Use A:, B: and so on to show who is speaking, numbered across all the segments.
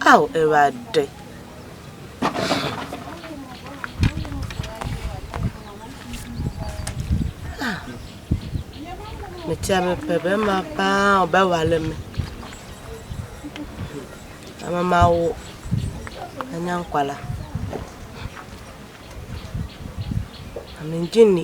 A: Ao Awurade. Ah. Metia mepɛ bɛma paa ɔbɛwale me. Ama mawo anya nkwala. Ame ngye nni.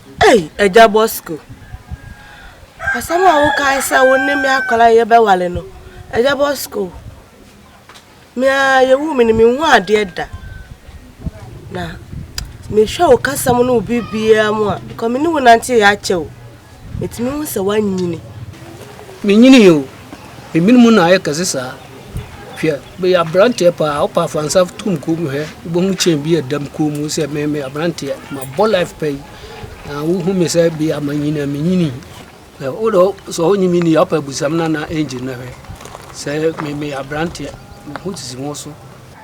B: Ei Agya
A: Bosco, asɛm a wokae sɛ wo ne me akwadaa a yɛbɛware no, Agya Bosco, me ara yɛwuu me no, menhuu adeɛ da. Na mehwɛ wo kasa mu ne wo biribiara mu a, because me ne wo nanteeɛ akyɛ o, metumi hu sɛ woanyini. Menyinii
B: o, Ebinom na ayɛ kɛse saa. Hwɛ, meyɛ aberanteɛ paa, wopa fa nsa to me kɔn mu hwɛ, wobɛhu chain bi a ɛda me kɔn mu sɛ me meyɛ aberanteɛ, mabɔ life pa yi, na wohu me sɛ bi a manyini a menyini. Na wode sɛ wonye me ni a, wopɛ abusam no anaa engine no hwɛ. Sɛ me meyɛ aberanteɛ, me ho sisi wo ho so.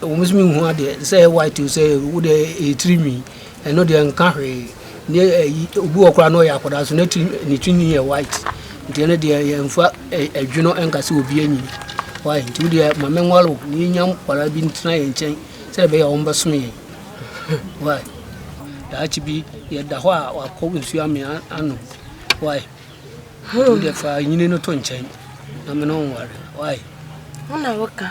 B: Ɛwom sɛ menhu adeɛ sɛ ɛyɛ white o sɛ wo deɛ ɛyɛ tiri nwi ɛno deɛ nka hwee ne ɛyi obi wɔ koraa na ɔyɛ akwadaa so ne tiri ne tiri nwi yɛ white nti ɛno deɛ yɛmfa ɛdwe no ɛnka sɛ obi anyi wae nti wo deɛ ma menware o na yɛnya nkwadaa bi ntena yɛn nkyɛn sɛ ɛbɛyɛ a wɔmbɛsom yɛn wae daakye bi yɛda hɔ a wakɔ nsuo amea anom wae wo deɛ fa nyini no to nkyɛn na mene ɔnware wae wo na
A: woka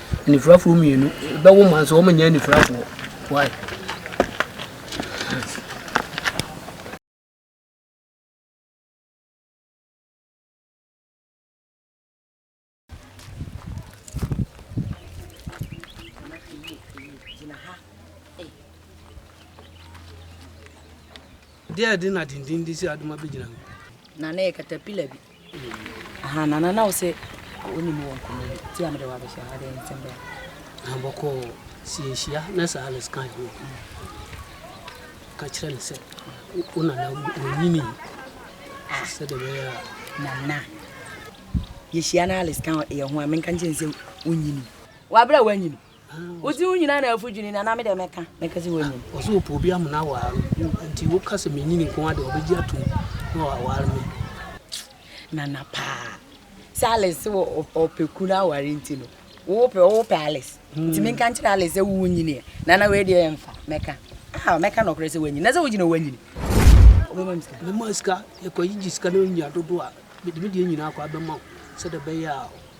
B: Anifurafoɔ mmienu bɛwo ma nso wɔnyɛ anifurafoɔ. Why? Deɛ ɛde na dindindin si adoma bɛgyina ho. Na na ɛyɛ
C: katapila bi. Aha nana na wo sɛ wone mu wɔ nkɔmmɔ bi ti a mede wo abɛhyɛ ha deɛ nsɛm bɛn aha bɔkɔɔ
B: si yɛnhyia na sɛ Alice kan ho ka kyerɛ no sɛ wo nana ɔnyini sɛdeɛ bɛyɛ a nana
C: yɛhyia na Alice ka yɛ ho a menka nkyɛn sɛ wonyini wabrɛ a wanyini Wodze wo nyina na afu dwene na na me dɛ mɛka mɛka dze wonyin. Ɔse wɔpɛ obi ama no
B: awar no nti woka sɛ menyin nko ara de ɔbɛgye atom na ɔawar me.
C: Nana paa sɛ Alice se wɔ ɔpɛ ku no aware nti no wowo pɛ wowo pɛ Alice nti menka nkyerɛ Alice sɛ wowo nyini ɛ nana wei deɛ ɛmfa mɛka ah mɛka nɔkorɛ sɛ wanyin na sɛ wogyina wanyini wobɛma me sika mɛma sika
B: yɛkɔ yigye sika na ɔnya dodo a mede me deɛ nyinaa kɔ abɛma wo sɛdeɛ bɛyɛ a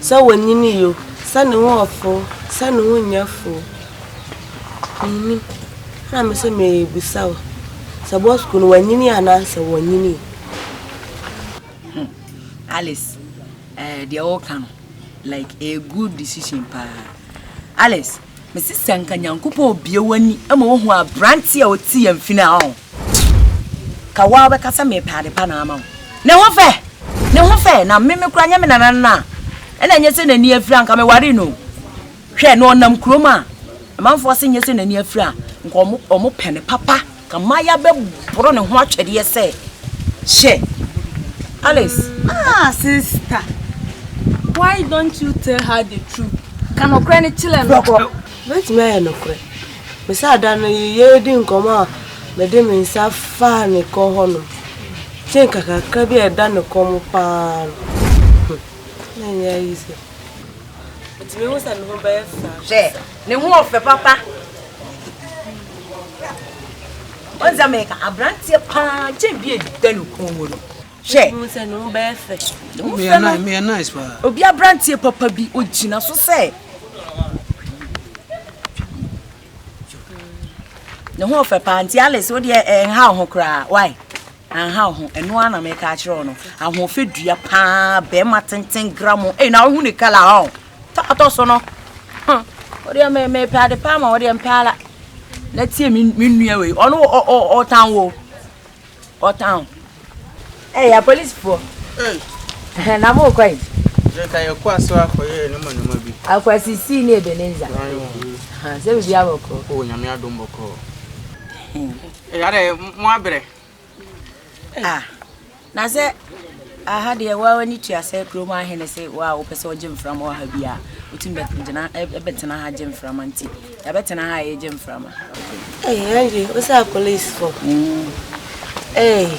A: Sɛ wonyin yo, sɛ ne ho ɔfo, sɛ ne ho nyɛ fo o, minnim. Ɛna me se merebisa wo sɛ bɔ sukuu no wanyini anaa sɛ wɔnyinii? Hmm.
C: Alice, eh, deɛ woka no, like, ɛyɛ good decision paa. Alice, Mese sɛ nka Nyankopɔn obue w'ani ma wohu aberanteɛ a ɔte yɛn fi no a ɔn, ka woaa wobɛka sɛ mepɛ adepa na ama wo. Ne ho fɛ! Ne ho fɛ! Na me me koraa nyɛ me nananom no a, ɛna ɛnyɛ sɛ n'ani afira a, nka mewaree no o. Hwɛ, na ɔnam kurom a, amanfoɔ se nyɛ sɛ n'ani afira a, nka wɔpɛ no papa. Kamaya bɛboro ne ho atwɛdeɛ sɛ, Hyɛ! Alice. Ah,
D: sista. Why don't you tell her the truth? Ka nokorɛ no kyerɛ no. Dɔkɔ, mɛtumi ayɛ
A: nokorɛ. Me sɛ ada no yɛredi nkɔmmɔ a mede me nsa faa ne kɔn hɔnom, te nka kakra bi a ɛda ne kɔn mu paa no. Hmm, na ɛnyɛ ayi sɛ. Ɛtumi hu sɛ me ho bɛyɛ fɛ. Hwɛ, Ne ho ɔfɛ
C: papa. Ɔnza mɛka abranteɛ paa kyɛn bi ɛda ne kɔn mu no. Hwɛ. Mo sɛ ne ho bɛyɛ
A: fɛ. Meyɛ nice meyɛ
B: nice paa. Obi abranteɛ papa
C: bi ogyina so sɛ. Ne ho ɔfɛ paa nti Alice wo deɛ ɛnha wo ho koraa why. Anha wo ho, ɛno ara na meka akyerɛ wo no, ahoɔfɛ dua paa, bɛrima tenten gramo, ei na wohu ne kala hɔ, ta atɔ so no, wodeɛ me mepɛ ade paa ma wodeɛ mpɛ ala, na tie me me nua wei, ɔno ɔtan wo, ɔtan wo. Ɛyɛ apolisifoɔ, na mo kɔ yi? Yɛka yɛ kɔ
E: aso akɔyɛ nneɛma nneɛma bi. Akwasisi ne
C: Ebenezer, sɛ biribi abɔkɔ. O nyame adom bɔkɔ.
E: Ɛyɛ dɛ mo abrɛ. Ah
C: na sɛ aha deɛ woa w'ani tua sɛ kurom ahene se woa wopɛ sɛ ɔgye mframa wɔ ha bi a wotumi bɛgyina ɛbɛtena ha gye mframa nti yɛbɛtena ha a yɛgye mframa. Ɛyɛ ɛyɛ
A: wosa police fo. Ɛyɛ.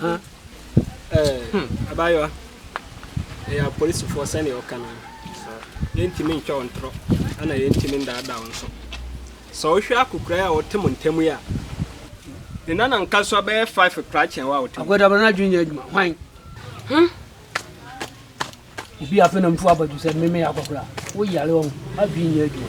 F: ha ɛɛ abaayewa ɛyɛ apolisifoɔ sɛnea ɔka no yɛntumi ntwa wo ntorɔ ɛna yɛntumi ndaadaa wo nso sɛ wohwɛ akokora yi a ɔte mo ntam yi a ne nana nka so abɛyɛ five kora kyɛn wo a ɔte
B: akwada bɛrɛ
F: n'adwene nyɛ
B: adwuma hwan
F: hmm?
B: obi afei na mfu abadu sɛ mmemme yɛ akɔkora woyare ɔho adwene nyɛ adwuma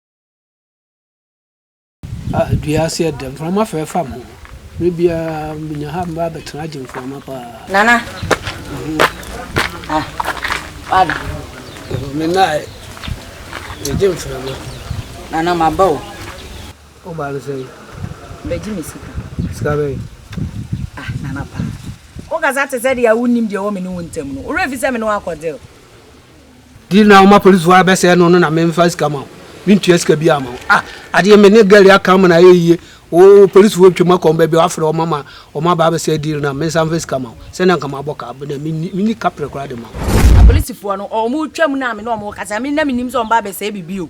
B: Ah dua ase yɛ dɛ, mframa fɛɛ fa me ho. Bere biara menya ha mɛba abɛtena agye mframa paa. Nana.
C: Ah, wada.
B: Mena ɛ, megye mframa. Nana,
C: maba o. Wobaa
B: no sɛn? Bɛgye me
C: sika. Sika bɛn?
B: Ah,
C: Nana paa. Wokasa te sɛ deɛ wonnim deɛ ɛwɔ me ne wo ntam no. Wo werɛ fi sɛ me ne wo akɔdeal? Di
B: na woma polisifo ara bɛsɛɛ no no na me mfa sika ma wo me ntua sika biara ma wo ah adeɛ me ne girl aka ama no ayɛ yie wo polisifo atwam akɔ baabi a wafrɛ wɔn ama wɔn aba abɛsɛɛ deal no a mensa mfa sika ma wo sɛnea nka mabɔ ka bɛnɛ menni menni kaprɛ koraa de ma wo. Apolisifoɔ no wɔn
C: retwam no a me ne wɔn rekasa me na mennim sɛ wɔn ba abɛsɛɛ biribi o.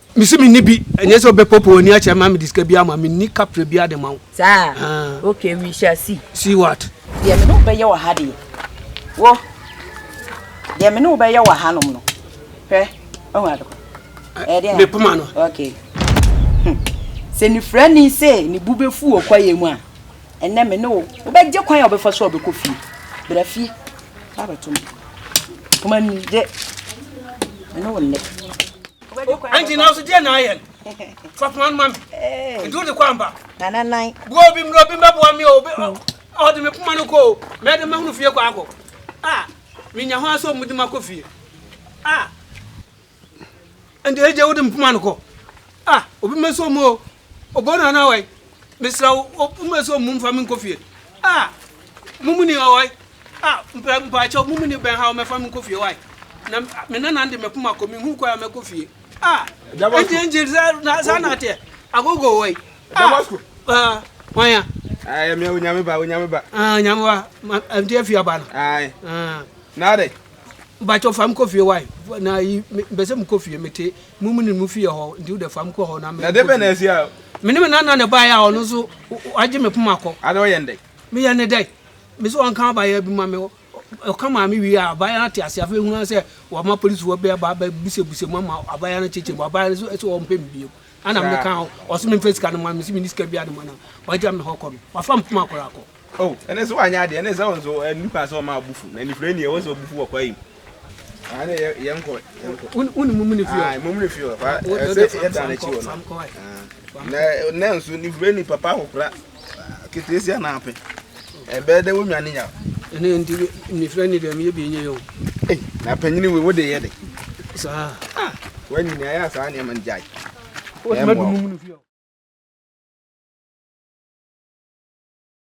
B: Mese menni bi, ɛnyɛ sɛ wobɛpopo w'ani akyerɛ ma mede sika biara ma, menni kapre biara de ma wo. Saa? Haa. Okay,
C: we shall see. See what?
B: Deɛ me ne wo bɛyɛ wɔ
C: ha deɛ, wo, deɛ me ne wo bɛyɛ wɔ hanom no, hwɛ, ɔhu ade kɔ. Ɛyɛ deɛ? Mepoma no.
B: Okay.
C: Hmm. Sɛ nifirani sɛ ne bu bɛfu wɔ kwaeɛ mu a, ɛnɛ me ne wo, wobɛgye kwan a wobɛfa so a wobɛkɔ fie. Bra fie, fa abɛto me. Poma ni, gye. Me ne wo nnɛ.
B: Anti na ɔso deɛ na ayɛ no. Fa poma no ma me. Nti wode kɔ amba. Nana nan. Boa
C: obi mmerɛ obi mbɛboa
B: me o. Ɔde me poma no kɔ o. Mɛde ma hunu fie kɔ akɔ. Ah, menya ho asɔ mu de ma kɔ fie. Ah. Nti ɛgye wode me poma no kɔ. Ah, obi mɛsɔ mu o. Ɔbɔ no anaa wai? Mesrɛ wo, woma sɛ ɔmum fa me nkɔ fie. Ah, mum ni hɔ wai? Ah, mpɛ mpaakyɛw, mum ni bɛn ha wɔ mɛfa me nkɔ fie wai? Na me nana de mɛpom akɔ, menhu kwan a mɛkɔ fie. Ah, ɛnti ɛnti saa na ateɛ, agogo wai? Ah, ah, wanya. Ah, yɛ mea onyame
E: ba, onyame ba. Ah, onyame ba,
B: ɛnti afie aba no. Ah,
E: na adɛ. Mpaakyɛw
B: fa me kɔ fie wai? Na yi, mpɛ sɛ mekɔ fie, mete. Mo mu ne mo fii hɔ, nti wode fam kɔ hɔ na me. Na ɛdeɛ bɛn na asi a. Me ne me nana na ɛbaeɛ a ɔno nso wagye me poma kɔ. Ade ɔyɛ no dɛn? Meyɛ no dɛn? Me sɛ ɔnka abaayewa bi ma me, ɔka maa me wie a, abaayewa no te aseɛ. Afei ɛhunu ara sɛ wɔama polisifoɔ bi aba abɛbusabusam mu ama abaayewa no akyekyɛ mu. Abaayewa no nso sɛ ɔmpɛ me bio. Ɛna meka ho, ɔse memfa sika no ma no, mese menni sika biara de ma no a, wagya me hɔ kɔ no. Wafa me poma koraa kɔ. Oh, ɛne sɛ
E: wanyɛ adeɛ ɛne sɛ wo nso ɛne nipa sɛ ɔma abufu na nifire ni ɛwɔ sɛ ɔbufu wɔ kwae mu ɛne yɛ nkɔ wone mumu ne
B: fie mumu ne fie ɛsɛ
E: yɛda no akyi wɔ no na nɛ nso nifire ni papa akokora keteesia na apɛ ɛbɛɛ dɛ wonwa ne nya ɛne nti
B: nifire ni deɛ meyɛ bi nyɛ yɛ o na panyini
E: wei wode yɛ de saa wanyini ayɛ
B: saa nneɛma no
E: gyae wode madu
B: mumu
E: ne fie